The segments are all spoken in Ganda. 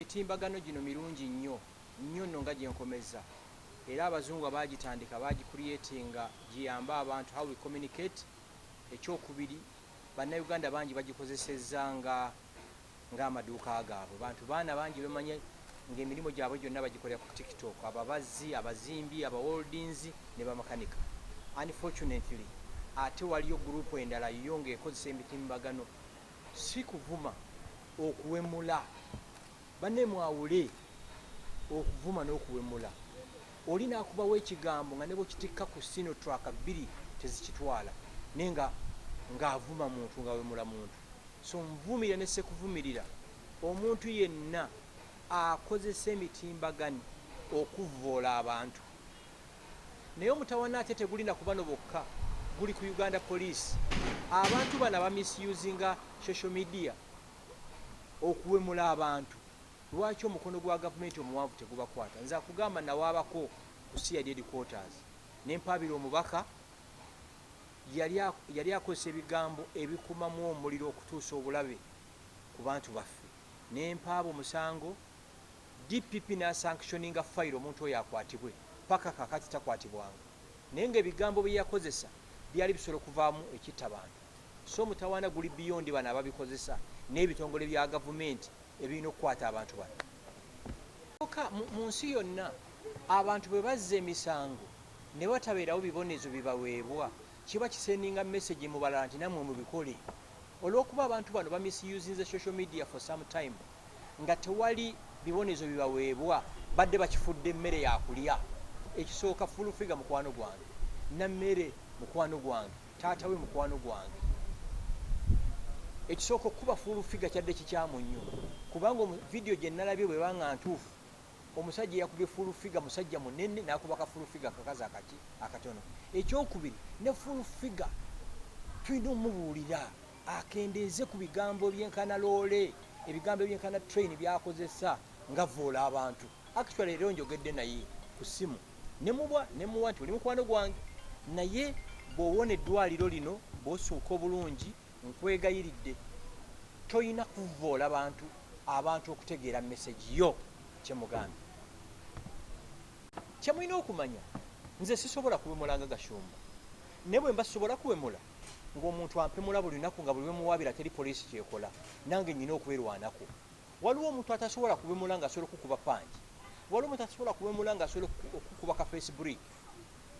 Emitimbagano gino mirungi nnyo nnyo nno nga gyenkomezza era abazungu abaagitandika baagicreatinga giyambe abantu how we communicate, ekyokubiri bannayuganda bangi bagikozesezza nga ng'amaduuka gaabwe, bantu baana bangi bemanyi ng'emirimu gyabwe gyonna bagikolera ku TikTok, ababazzi, abazimbi, abawoldinzi ne bamakanika. Unfortunately ate waliyo group endala yo ng'ekozesa emitimbagano Si kuvuma, okuwemula. Banne mwawule okuvuma n'okuwemula. Oli n'akubawo ekigambo nga ne bw'okitikka ku sino track bbiri tezikitwala naye nga ng'avuma muntu, ng'awemula muntu. So nvumirira ne ssekuvumirira omuntu yenna akozesa emitimbagano okuvvoola abantu. Naye omutawana ate teguli na kubano bokka guli ku Uganda police. Abantu bano aba misusinga social media okuwemula abantu lwaki omukono gwa gavumenti omuwanvu tegubakwata? Nze akugamba nawaabako ku CID headquarters ne mpaabira omubaka yali akozesa ebigambo ebikumamu omuliro okutuusa obulabe ku bantu baffe ne mpaaba omusango DPP n'asankishoninga fayiro omuntu oyo akwatibwe, ppaka kaakati takwatibwanga naye ng'ebigambo bye yakozesa byali bisobola okuvaamu ekitta bantu so omutawaana guli beyond bano ababikozesa n'ebitongole bya gavumenti ebirina okukwata abantu bano. Kyoka mu nsi yonna abantu bwe bazza emisango ne watabeerawo bibonezo bibaweebwa kiba kisendinga message mu balala nti nammwe mubikole. Olw'okuba abantu bano bamisiyuzinze social media for some time, nga tewali bibonezo bibaweebwa badde bakifudde mmere yakulya ekisooka full figure mukwano gwange nammere mukwano gwange taata we mukwano gwange ekisooka okukuba full figure kyadde kikyamu nnyo kubanga vidiyo gye nalabye bweba nga ntuufu omusajja eyakubye full figure musajja munene nakuba ka full figure kakazi akaki akatono ekyokubiri ne full figure tulina omubuulira akendeeze ku bigambo ebyenkana loole, ebigambo ebyenkana train byakozesa ngavvoola abantu. Actually leero njogedde naye ku ssimu nemubwa nemuwa nti oli mukwano gwange naye bw'owona eddwaliro lino bw'osuuka obulungi nkwegayiridde tolina kuvvoola bantu abantu okutegeera mesegi yo kyemugambye kyemulina okumanya nze sisobola kuwemulanga gashumba naye bwe mba sisobola kuwemula ng'omuntu ampemula buli lunaku nga buli lwemuwaabira teri poliisi kyekola nange nnyina okwerwanako waliwo omuntu atasobola kuwemula nga asobola okukuba pangi waliwo omuntu atasobola kuwemula nga asobola okukuba ka face brick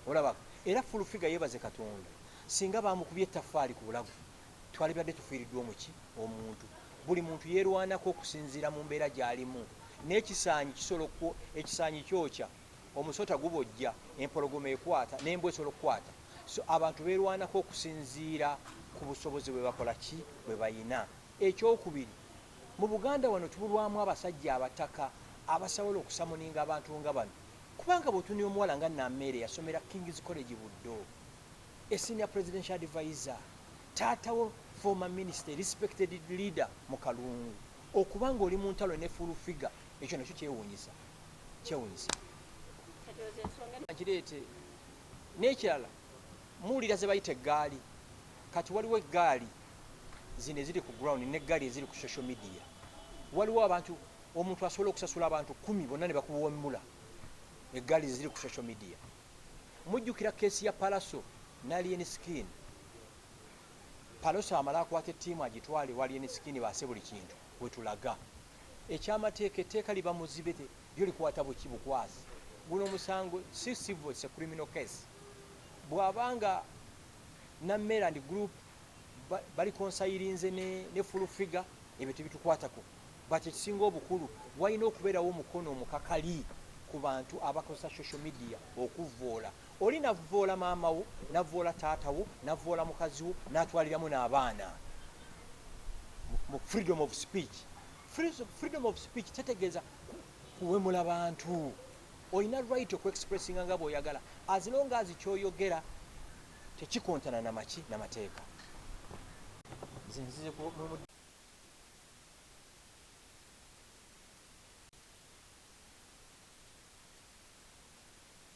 olaba era full figure yebaze katonda singa bamukubye ettaffaali ku bulago twalibadde tufiiriddwa omuki omuntu buli muntu yeerwanako okusinziira mu mbeera gy'alimu n'ekisaanyi kisobola ekisaanyi kyokya Omusota gubojja, empologoma ekwata, n'embwa esobola okukwata. So abantu beerwanako okusinziira ku busobozi bwe bakola ki? Bwe balina. Eky'okubiri, mu Buganda wano tubulwamu abasajja abataka abasaola okusamoninga abantu nga bano kubanga bw'otunuya omuwala nga Nameere yasomera King's College Buddo, a senior presidential adviser, taata wo former minister, a respected leader mu Kalungu. Okuba ng'oli mu ntalo ne Full Figure Ekyo nakyo kyewuunyisa kyewuunyisa kireete n'ekirala muwulira ze bayita eggaali kati waliwo eggaali zino eziri ku ground n'eggaali eziri ku social media waliwo abantu omuntu asobola okusasula abantu kumi bonna ne bakuwombula eggaali zeziri ku social media mujjukira keesi ya palaso nalien skin palaso amala akwata ettiimu agitwale walien skin baase buli kintu wetulaga Ekyamateeka etteeka liba muzibe te lyo likwata buki bukwazi. Guno musango si civil it's a criminal case. Bwaba nga Nammere and group ba balikonsayirinze ne ne full figure ebyo tebitukwatako but ekisinga obukulu walina okubeerawo omukono omukakali ku bantu abakozesa social media okuvvoola. Oli navvoola maama wo, navvoola taata wo, navvoola mukazi wo natwaliramu n'abaana mu freedom of speech. Freedom of speech tetegeeza kuwemula bantu. Olina right oku expressinga nga bw'oyagala as long as ky'oyogera tekikontana na maki na mateeka.